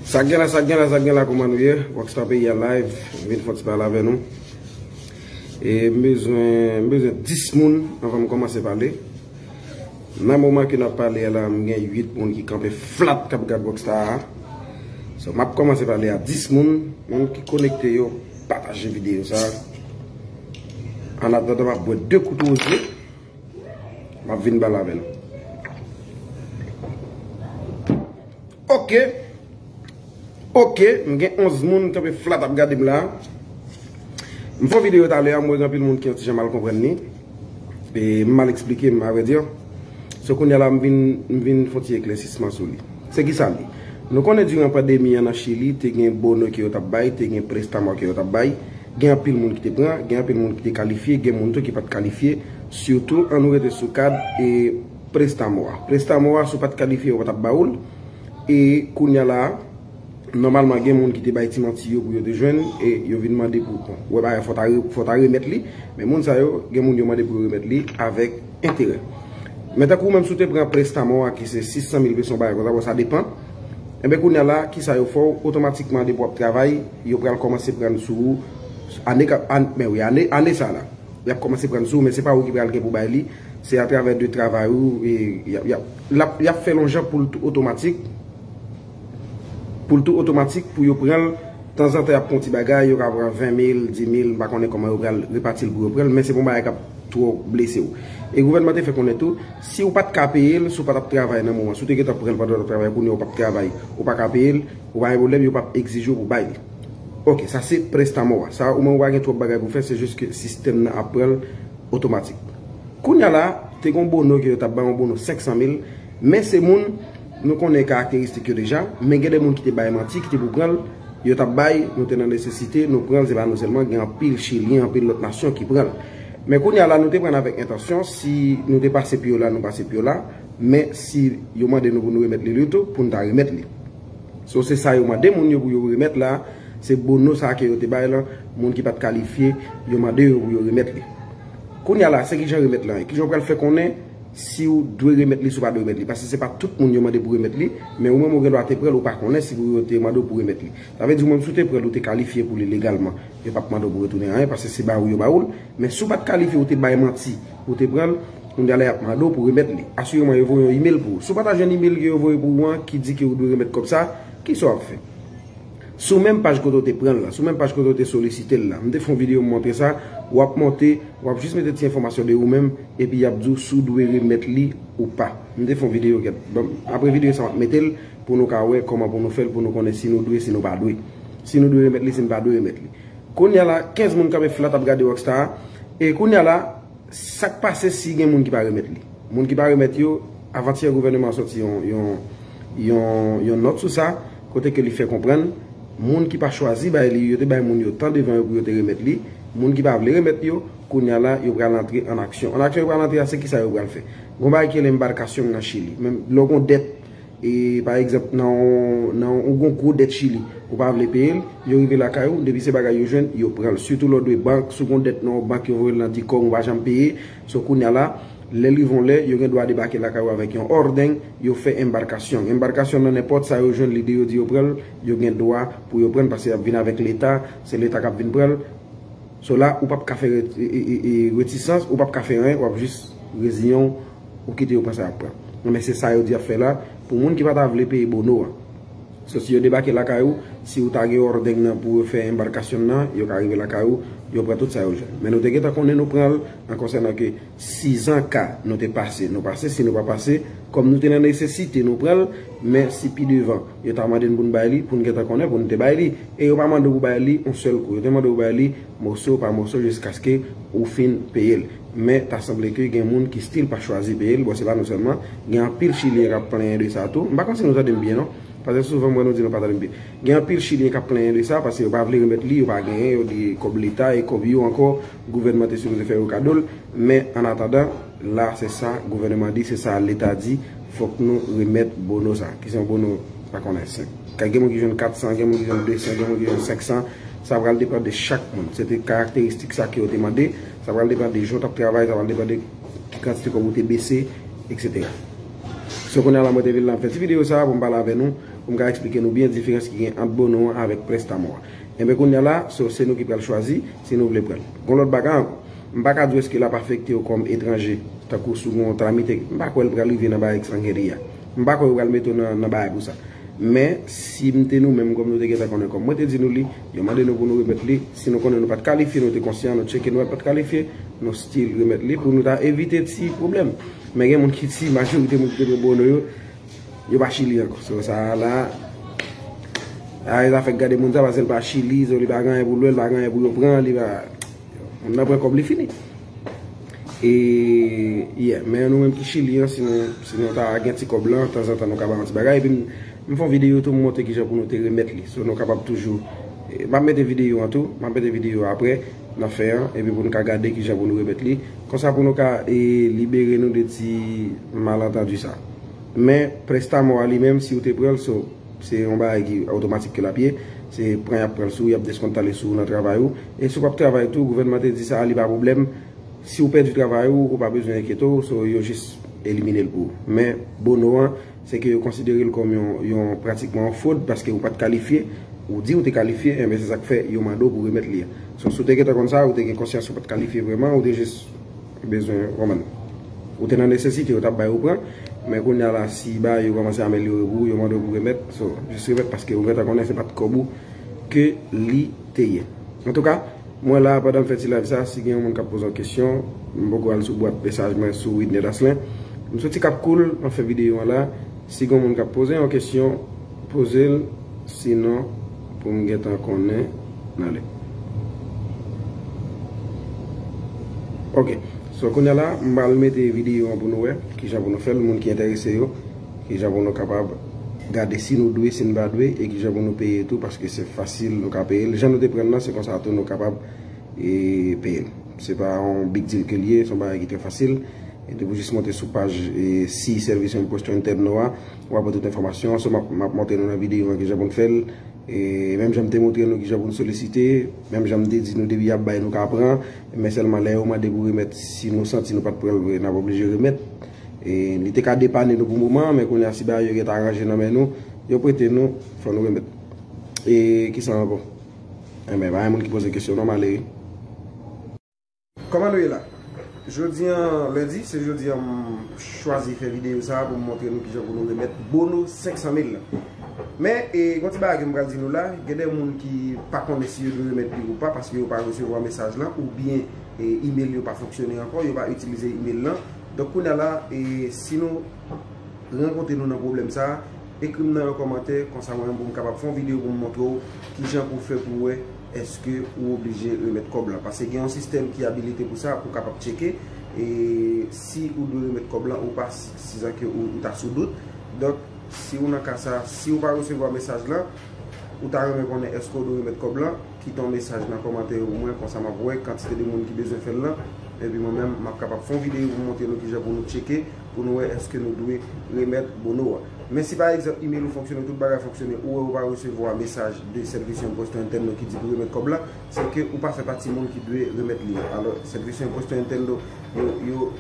Sak gen la sak gen la sak gen la kouman nou ye rock star peyi a live m vin fox pale avè nou e m bezwen m bezwen 10 moun avan m komanse pale nan moman ke nap pale a la m gen 8 moun ki kanpe flat kap gad rock star a so map komanse pale a 10 moun moun ki konekte yo pataje videyo sa an ap gade map bwe 2 kout wouj yo. Map vin bal avèl. Ok. Ok. M gen 11 moun kanpe flat ap gade m la. M fon video talè a m wè gen anpil moun ki yon ti jan mal konprann ni. E m mal eksplike m avè di. So kounye la m vin m vin fon ti eklèsisman sou li. Se ki sa li. Nou konnen diran pandemi an nan chili te gen bono ki yo tap bay, te gen prestamò ki yo tap bay. Gen anpil moun ki te pran, gen anpil moun ki te kalifye, gen moun tou ki pa t kalifye. Sitou, an nou rete sou kad e prestamo a. Prestamo a, si w pa t kalifye, yo pa t ap ba ou l. E kounye a la a, nòmalman gen moun ki te bay ti manti yo pou yo te jwenn e yo vin mande pou bon, wè bagay fò ta fò ta remèt li. Men moun sa yo, gen moun yo mande pou yo remèt li avèk enterè. Men tankou ou menm si w te pran prestamo a ki se 600 mil pesos yon bagay konsa, bon sa depan. Enben kounya la kisa yo fè w otomatikman depi wap travay yo pral kòmanse prann sou ou ane kap men wi ane sa la yap kòmanse prann sou ou men se pa ou ki pral gen pou bay li se atravè de travay ou yap fè lonjan pou l tou otomatik pou l tou otomatik pou yo pranl tanzantan yap pran yon ti bagay yo ka pran 20 mil, 10 mil m pa konnen kòman yo pral repati l pou yo pranl men se pa yon bagay kap twò blese w e gouvènman te fè konnen tou Si ou pat ka peye l, si ou pa tap travay nan moman, si ou te gentan pran l pandan w tap travay, kounye a ou pap travay, ou pa ka peye l, ou pa gen pwoblèm, yo pap egzije w pou w bay li. Ok, sa se prestamò a. Sa omenm ou pa gen twòp bagay pou w fè, se jis ke sistèm nan ap pran l otomatik. Kounye a la, te gen yon bono ke yo tap bay, yon bono 500 mil, men se moun. Nou konnen karakteristik yo deja, men gen de moun ki te bay manti, ki te pou pran l, yo t ap bay, nou te nan nesesite, nou pran l, se pa nou sèlman, gen anpil Chilyen, anpil lòt nasyon ki pran l. Men kounye a la, nou te pran l avèk entansyon, si nou te pase pi yo la, nou pase pi yo la, men si yo mande nou pou nou remèt li l yo tou, pou nou ta remèt li. So se sa yo mande moun yo pou yo remèt la, se bono sa ke yo te bay la, moun ki pa t kalifye, yo mande yo pou yo remèt li. Kounye a la, se kijan remèt lan ye? Kijan ou pral fè konnen Si ou dwe remèt li si ou pa dwe remèt li. Pase se pa tout moun yo mande pou remèt li, men ou menm ou gen dwa te pran l ou pa konnen si yo te mande w pou remèt li. Sa vle di ou menm si w te pran l ou te kalifye pou li legalman. Yo pap mande w pou retounen anyen pase se ba ou yo ba ou l. Men si w pat kalifye ou te bay manti pou w te pran l, kounye a la y ap mande w pou remèt li. Asireman yo voye yon imel pou ou. Si w pa ta jwenn imel ke yo voye pou ou an ki di ke ou dwe remèt kòb sa, kisa w ap fè? Sou menm paj kote w te pran l la, sou menm paj kote w te solisite l la. M te fè yon videyo m montre sa, w ap monte, w ap jis mete ti enfòmasyon de ou menm, epi y ap di w si w dwe remèt li ou pa. M te fè yon videyo gèt. Apre videyo sa m ap mete l pou nou ka wè kòman pou nou fè l pou nou konnen si nou dwe, si nou pa dwe. Si nou dwe remèt li, si nou pa dwe remèt li. Kounya la, 15 moun kanpe flat ap gade Rockstar. E kounya la. Sak pase si gen moun ki pa remèt li? Moun ki pa remèt yo, avantyè gouvèneman an sòti yon nòt sou sa, kote ke li fè konprann, moun ki pa chwazi bay li, yo te bay moun yo tan devan yo pou yo te remèt li, moun ki pa vle remèt yo, kounya la yo pral antre an aksyon. An aksyon yo pral antre a, se kisa yo pral fè? Gon bagay ki rele embarcacion nan Chili. Menm lè w gon dèt. E pa egzanp nan yon ou gon gwo dèt chili ou pa vle peye l, yo rive lakay ou depi se bagay yo jwenn yo pran l sitou lè w dwe bank, si w gon dèt nan yon bank yo voye l nan dicom ou pa janm peye, so kounya la lè l rive yon lè yo gen dwa debake lakay ou avèk yon òrdeng yo fè embarcacion embarcacion nan nenpòt sa yo jwenn lide yo di yo pran l yo gen dwa pou yo pran l paske y ap vin avèk leta se leta k ap vin pran l so la ou p ap ka fè retisans ou p ap ka fè anyen w ap jis reziyen w. ou kite yo pran sa y ap pran. Bon men se sa yo di y ap fè la pou moun ki pa ta vle peye bono an. So si yo debake lakay ou, si ou ta gen òrdeng nan pou yo fè enbarkasyon nan, yo ka rive lakay ou, yo pran tout sa yo jwenn. Men nou te gentan konnen nou pran l an konsènan ke sizan ka nou te pase, nou pase, si nou pa pase, kòm nou te nan nesesite nou pran l, men si pi devan yo ta mande n pou n bay li, pou n gentan konnen pou n te bay li. E yo pa mande w pou bay li yon sèl kou, yo te mande w bay li. Moso pa moso jiskaske ou fin peyel. Men ta sanble ke gen moun ki stil pa chwazi peyel, bon se pa nou selman, gen anpil chilyen kap plenyen de sa tou. M pa konn si nou tande m byen non, paske souvan m wè nou di nou pa tande m byen. Gen anpil chilyen kap plenyen de sa paske yo pa vle remèt li, yo pa genyen, yo di kob leta e kob yo anko gouvènman te sipoze fè yo kadol. Men an atandan. la se sa gouvèneman di se sa leta di fòk nou remèt bono sa ki se yon bono pa konnen se ka gen moun ki jwenn 400 gen moun ki jwenn 200 gen moun ki jwenn 500 sa pral depan de chak moun se te karakteristik sa ke yo te mande sa pral depan de jan w tap travay sa pral depan de ki kantite kòb ou te bese etc so kounye a la mwen te vin la m fè ti videyo sa pou m pale avè nou pou m ka eksplike nou byen diferans ki gen ant bono an avèk prèstamò a enben kounye a la so se nou ki pral chwazi si nou vle pran l gon lòt bagay ankò. M pa ka di w èske l ap afekte w kòm etranje, tankou si w gen yon kalamite, m pa kwè l pral rive nan bagay ki san geri a. M pa kwè yo pral mete w nan nan bagay pou sa. Men, si m te nou menm, kòm nou te gentan konnen, kòm mwen te di nou li, yo mande nou pou nou remèt li, si nou konnen nou pa t kalifye, nou te konsyan, nou tcheke nou wè l pa t kalifye, nou still remèt li pou nou ta evite ti pwoblèm. Men gen moun ki di, majorite moun ki te pran Bono yo, yo pa Chili ankò. So, sa a la, a e zafè gade moun sa, pase l pa Chili, so li pa gen anyen pou l wè, li pa gen anyen pou yo pran, li pa. Moun nan pran kòb li fini. E yeah men nou menm ki chili an si nou ta gen ti kòb lan tanzantan nou ka bay yon ti bagay epi m fè yon videyo tou m montre kijan pou nou te remèt li sou nou kapab toujou m ap mete videyo an tou m ap mete videyo an aprè nan fen an epi pou nou ka gade kijan pou nou remèt li konsa pou nou ka libere nou de ti malantandi sa men prestamò a li menm si ou te pran l so. Se yon bagay ki otomatik ke l ap ye. Se pran y ap pran sou ou, y ap deskontale sou ou nan travay ou. E si w pa p travay tou, gouvènman te di sa a, li pa pwoblèm. Si ou pèdi travay ou, ou pa bezwen enkyete w, so yo jis elimine l pou ou. Men, bono an, se ke yo konsidere l kòm yon pratikman yon fwod paske ou pa t kalifye. Ou di ou te kalifye, enben se sa k fè yo mande w pou remèt li a. So, si w te gentan konn sa, ou te gen konsyans ou pa t kalifye vrèman, ou te jis. Bezwen yo konprann ou te nan nesesite yo tap bay ou pran men kounya la si bagay yo kòmanse amelyore pou ou yo mande w pou remèt so jis remèt paske ou gentan konnen se pat kòb ou ke li te ye antouka mwen la pandan m fè ti live sa si gen yon moun kap poze yon kesyon m poko al sou bwat mesaj mwen sou widney daslen m soti kap koul map fè videyo an la si gen yon moun kap poze yon kesyon. Poze l si non pou m gentan konnen nan le. Ok so kounya la m pral mete video an pou nou wè kijan pou nou fè l moun ki enterese yo kijan pou nou kapab gade si nou dwe si n pa dwe e kijan pou nou peye tou paske se fasil nou ka peye l jan nou te pran l lan se konsa tou nou kapab peye l se pa yon big deal ke l ye se yon bagay ki trè fasil e depi w jis monte sou paj si sèvis yon post yon tèb nou a Ou pa pran tout enfòmasyon an, so map montre nou nan videyo an kijan pou nou fèl. E menm jan m te montre nou kijan pou nou solisite, menm jan m te di nou depi yap bay nou ka pran, men sèlman lè yo mande pou remèt si nou santi nou pat pran l vre nap oblije remèt. E li te ka depane nou pou moman an, men kounye a si bagay yo gentan ranje nan men nou, yo prete nou, fò nou remèt. E kisa ankò? Enben pa gen moun ki poze kesyon non, m ale wi. Kòman nou ye la? Jodi an lendi, se jodi an m chwazi fè videyo sa a pou m montre nou kijan pou nou remèt bono 500 mil la. Men, gon ti bagay ke m pral di nou la, gen de moun ki pa konnen si yo dwe remèt li ou pa paske yo pa resevwa mesaj lan oubyen imel yo pa fonksyone ankò, yo pa itilize imel lan. Donk kounye a la, si nou rankontre nou nan pwoblèm sa a, ekri m nan yon kòmantè, konsa mwen menm pou m kapab fè yon videyo pou m montre w kijan pou fè pou wè. Eske ou oblije remèt kòb lan? Pase gen yon sistèm ki abilite pou sa, pou kapab tcheke e si ou dwe remèt kòb lan ou pa, sizan ke ou ta sou dout. Donk, si ou nan ka sa, si ou pa resevwa mesaj lan, ou ta renmen konnen eske ou dwe remèt kòb lan, kite yon mesaj nan kòmantè yo pou mwen, konsa m ap wè kantite de moun ki bezwen fè l lan. Epi mwen menm, m ap kapab fè yon videyo pou m montre nou kijan pou nou tcheke. pou nou wè èske nou dwe remèt bono a. Men si pa egzanp email ou fonksyone, tout bagay fonksyone, ou wè ou pa resevwa mesaj de sèvis yon poste entèn nou ki di pou remèt kòb la, se ke ou pa fè pati moun ki dwe remèt li. Alò, sèvis yon poste entèn nou yo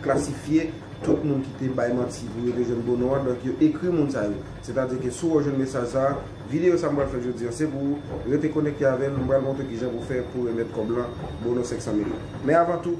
klasifye tout moun ki te bay manti pou yo te jwenn bono a, donk yo ekri moun sa yo. Setadi ke si wè ou jwenn mesaj sa a, videyo sa m pral fè jodi an se pou ou, rete konekte avè m, m pral montre kijan pou fè pou remèt kòb lan, bono 500 mil la. Men avan tou,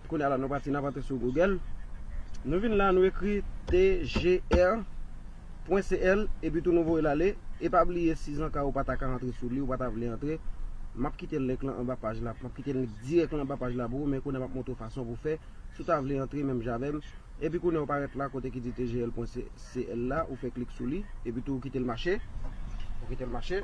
Kounya la nou pati nap antre sou Google nou vin la nou ekri tgr pwen cl epi tou nou voyel ale e pa bliye si zanka ou pata ka antre sou li ou pata vle antre map kite link lan anba paj la map kite link dirèk lan anba paj la pou ou men kounya map montre ou fason pou fè si ou ta vle antre menm jan avèm epi kounya ou parèt la kote ki di tgl pwen cl la ou fè klik sou li epi tou ou kitel mache ou kitel mache.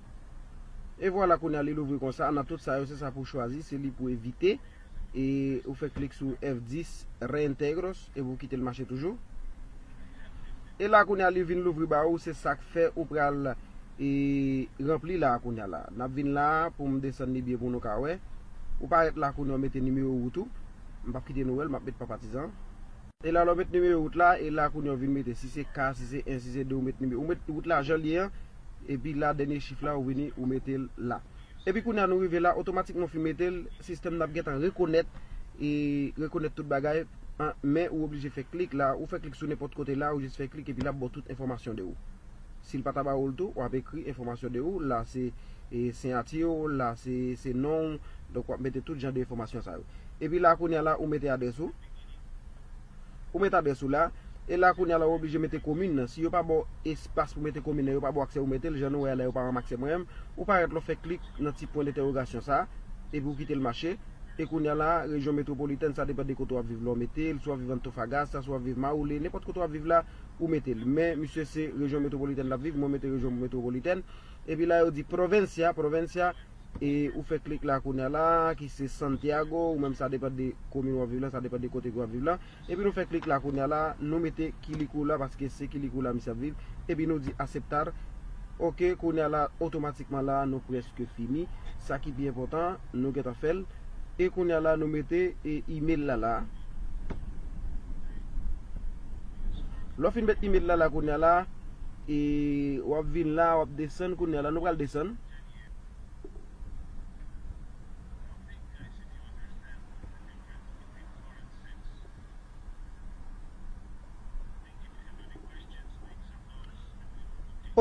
E vwala kounye a li louvri konsa nan tout sa yo se sa pou chwazi se li pou evite e ou fè klik sou F10 reintegros epi ou kitel mache toujou e la kounye a li vin louvri ba ou se sak fè ou pral e ranpli la kounye a la nap vin la poum desann li byen pou nou ka wè ou parèt la kounye a ou mete nimewo wout ou m pap kite nou wèl map met pa patizan e la lè ou met nimewo wout la e la kounye a ou vin mete si se K si se 1 si se 2 ou met nimewo ou met wout la janl ye an Epi la dènye chif la ou vini ou mete l la. Epi kounye a nou rive la otomatikman ou fin mete l sistèm nan ap gentan rekonèt e rekonèt tout bagay men ou oblije fè klik la ou fè klik sou nenpòt kote la ou jis fè klik epi l ap ba w tout enfòmasyon de ou. Si l pa ta ba ou l tou w ap ekri enfòmasyon de ou la se siyati w la se non w donk w ap mete tout jan de enfòmasyon sa yo. Epi la kounye a la ou mete adrès ou. Ou met adrès ou la, e la kounye a la ou oblije mete komin nan. Si yo pa ba w espas pou mete komin nan, yo pa ba w aksè ou mete l, jan nou wè a la yo pa ban m aksè mwen an, ou pa rèt la ou fè klik nan ti pwen dentèwogasyon sa, epi ou kite l mache, e kounye a la rejyon metwopolitèn sa depan de kote w ap viv la ou mete l, si w ap viv Antofagasta, si w ap viv Maule, nenpòt kote w ap viv la ou mete l. Men misye se rejyon metwopolitèn l ap viv, mwen mete rejyon metwopolitèn, epi la yo di Provincia, Provincia. E ou fè klik la kounya la ki se Santiago ou menm sa depan de komin wap viv la sa depan de kote ke wap viv la epi nou fè klik la kounya la nou mete Quilicura paske se Quilicura misye ap viv epi nou di aceptar ok kounya la otomatikman la nou preske fini sa ki pi enpotan nou gentan fèl e kounya la nou mete e email la la lò fin met email la la kounya la e wap vin la wap desann kounya la nou pral desann.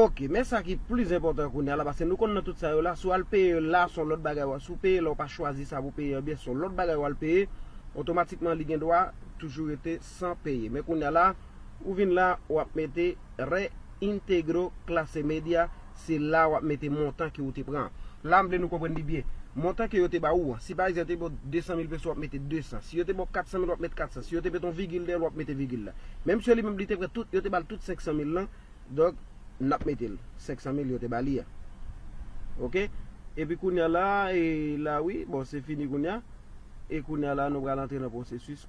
Ok men sa ki plis enpòtan kounye a la paske nou konn nan tout sa yo la si w al peye yo la son lòt bagay si w peye la ou pa chwazi sa pou w peye ebyen son lòt bagay w al peye otomatikman li gendwa toujou rete san peye men kounya la ou vin la wap mete re integro clase media se la wap mete montan ke ou te pran an la m vle nou konprann li byen montan ke yo te ba ou an si pa egzan yo te ba w 200 mil peso wap mete 200 si yo te ba w 400 mil wap mete 400 si yo te mete yon vigil dèyè l wap mete vigil la men msye li menm li te pran tout yo te ba l tout 500 mil lan donk nap mete l 500 mil yo te ba li an ok epi kounya la e la wi bon se fini kounya e kounya la nou pral antre nan pwosesis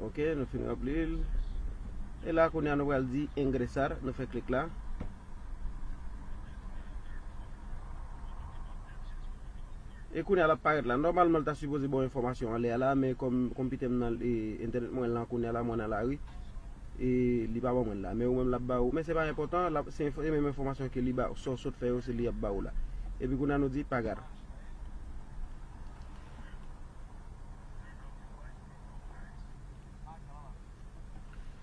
Ok nou fin ranplil. E la kounya nou pral di ingresar nou fè klik la. E kounya lap parèt la. Nòmalman li ta sipoze baw enfòmasyon anlè a la men kòm konpitèm nan e entènèt mwen lan kounya la mwen nan lari e li pa ban mwen la men ou menm lap ba ou men se pa enpòtan se menm enfòmasyon ke li ba ou sa ou sot fè yo se li yap ba ou la. Epi kounya nou di pagar.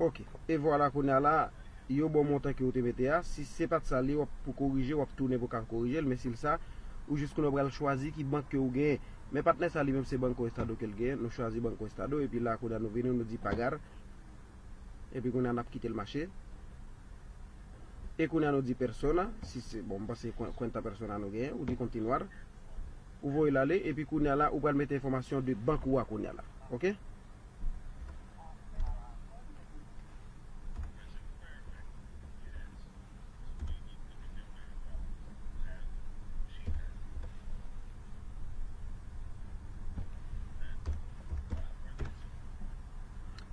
Ok e vwala kounya la yo baw montan ke ou te mete a si se pat sa li wap pou korije wap tounen pou ka korijel men sil sa ou jis konnen ou pral chwazi ki bank ke ou genyen men patnè sa li menm se banko estado kel genyen nou chwazi banko estado epi la kounya nou vini nou di pagar epi kounya nap kitel mache e kounya nou di persona si se bon m panse kwenta persona nou genyen ou di kontinuar. Ou voyel ale epi kounya la ou pral mete enfòmasyon de bank ou a kounya la ok.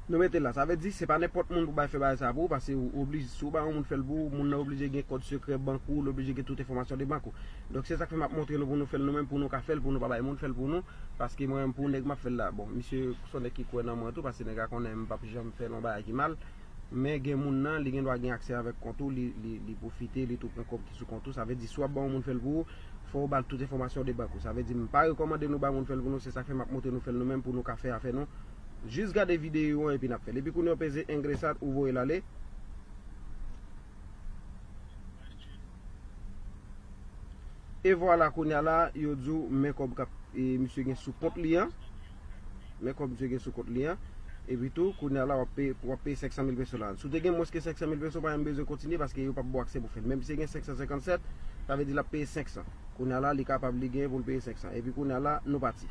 Nou mete l la. Sa vle di, se pa nenpòt moun pou bay fè bagay sa a pou ou, paske ou oblije, si ou bay yon moun fè l pou ou, moun nan oblije gen kòd sekrè bank ou, li oblije gen tout enfòmasyon de bank ou. Donk se sa k fè m ap montre nou pou nou fè l nou menm, pou nou ka fè l, pou nou pa bay moun fè l pou nou, paske mwen menm pou nèg m ap fè l la. Bon, misye se yon nèg ki kwè nan mwen tou, paske nèg la konnen m p ap janm fè yon bagay ki mal, men gen moun nan, li gen dwa gen aksè avèk kont ou, li pwofite, li tou pran kòb ki sou kont ou, sa vle di si w ap bay yon moun fè l pou ou, fò ou ba l tout enfòmasyon de bank ou. Sa vle di m pa rekòmande nou bay moun fè l pou nou, se sa k fè m ap montre nou fè l nou menm pou nou ka fè afè nou. Jis gade video an epi nap fèl. Epi kounye w peze engresad ou voyel ale. E vwala kounye a la yo di w men kob kap e misye gen sou kont li an. Men kob misye gen sou kont li an. Epi tou kounye a la wap peye pou wap peye 500 mil peso la. Si w te gen mwens ke 500 mil peso pa menm bezwen kontinye paske yo pap ba w aksè pou fèl. Men misye te gen 557 sa vle di lap peye 500. Kounye a la li kapab li gen pou l peye 500. Epi kounye a la nou pati.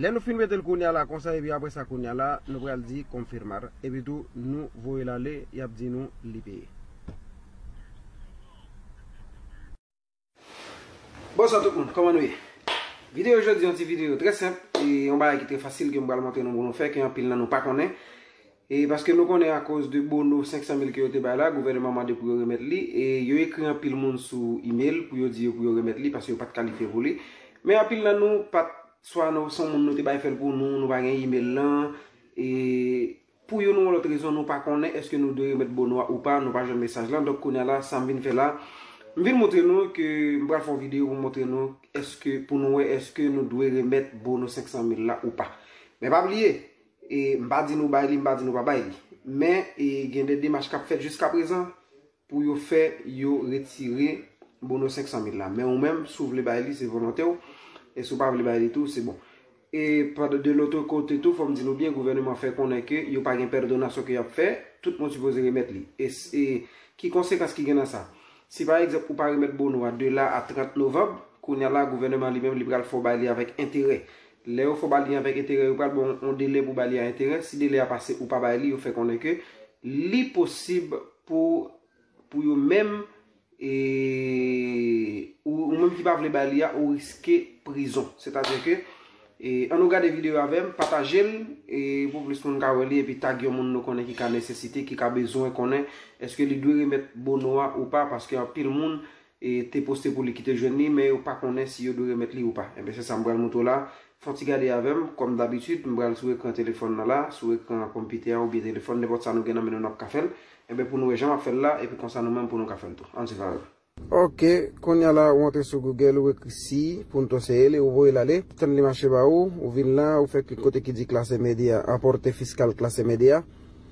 Lè nou fin mete l kounya la konsa epi apre sa kounya la nou pral di confirmar epi tou nou voye l ale yap di nou li peye. Bonswa tout moun, kòman nou ye? Videyo jodi yon ti videyo trè senp e yon bagay ki trè fasil ke m pral montre nou pou nou fè ke anpil nan nou pa konnen. E paske nou konnen akoz de bono 500 mil ke yo te bay la, gouvèneman mande pou yo remèt li e yo ekri anpil moun sou email pou yo di yo pou yo remèt li paske yo pat kalifye pou li. Men anpil nan nou pat swa nou son moun nou te bay fè l pou nou, nou pa gen email lan e Pou youn ou lòt rezon nou pa konnen èske nou dwe remèt bono a ou pa, nou pa jwenn mesaj lan. Donk kounya la sa m vin fè la, m vin montre nou ke m pral fè yon videyo pou m montre nou èske pou nou wè èske nou dwe remèt bono 500 mil la ou pa. Men pa bliye, e m pa di nou bay li, m pa di nou pa bay li. Men e gen de demach k ap fèt jiskaprezan. pou yo fè yo retire bono 500 mil la men ou menm si w vle bay li se volonte w e si w pa vle bay li tou se bon e pad de lotre kote tou fòm di nou byen gouvèneman fè konnen ke yo pa gen pèrdonasyon ke yap fè tout moun sipoze remèt li e e ki konsekans ki gen nan sa si pa egzanp ou pa remèt bono a de la a 30 novanb kounya la gouvèneman li menm li pral fè w bay li avèk enterè lè yo fè w bay li avèk enterè yo pral ba w yon delè pou w bay li a enterè si delè a pase ou pa bay li yo fè konnen ke li posib Pou pou yo menm e ou ou menm ki pa vle bay li a ou riske prizon. Sètadi ke e an nou gade video yo avèm, pataje l e pou plis moun ka wè li epi tag yon moun nou konnen ki ka nesesite, ki ka bezwen konnen eske li dwe remèt bono a ou pa paske anpil moun te poste pou li ki te jwenn li men yo pa konnen si yo dwe remèt li ou pa. Enben se sa m pral moutre w la. Fè yon ti gade avè m, kòm dabitid, m pral sou ekran telefòn nan la, sou ekran konpitè a oubyen telefòn, nenpòt sa nou gen nan men nou n ap ka fè l. Enben pou nou wè jan m ap fè l la epi konsa nou menm pou nou ka fè l tou. Ann swiv avè m. Ok, kounya la ou antre sou Google, ou ekri si, pou n to seye li, ou voye l ale, tann li mache ba ou, ou vin la, ou fè klik kote ki di Classe Media, Importe Fiscal Classe Media.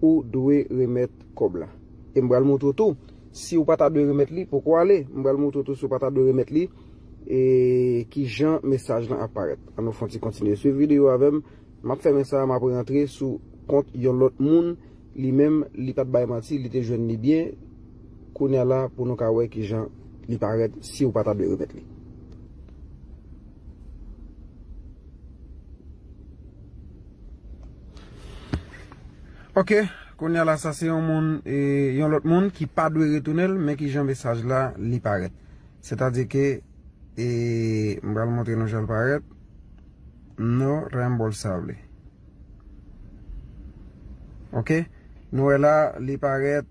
Ou dwe remèt kòb la. E m pral montre w tou si ou pa ta dwe remèt li poko ale. M pral montre w tou si ou pa ta dwe remèt li e kijan mesaj lan ap parèt. An nou fè yon ti kontinye swiv videyo a avè m. M ap fèmen sa a, m ap rantre sou kont yon lòt moun. Li menm, li pa t bay manti, li te jwenn li byen. Kounye a la pou nou ka wè kijan li parèt si ou pa ta dwe remèt li. Ok, konya la sa se yon moun, yon lot moun ki pa dwe retounen l, men ki jan mesaj la li paret. Se ta di ke, e, m pral montre nou jan l paret, no reembolsable. Ok, nou e la li paret.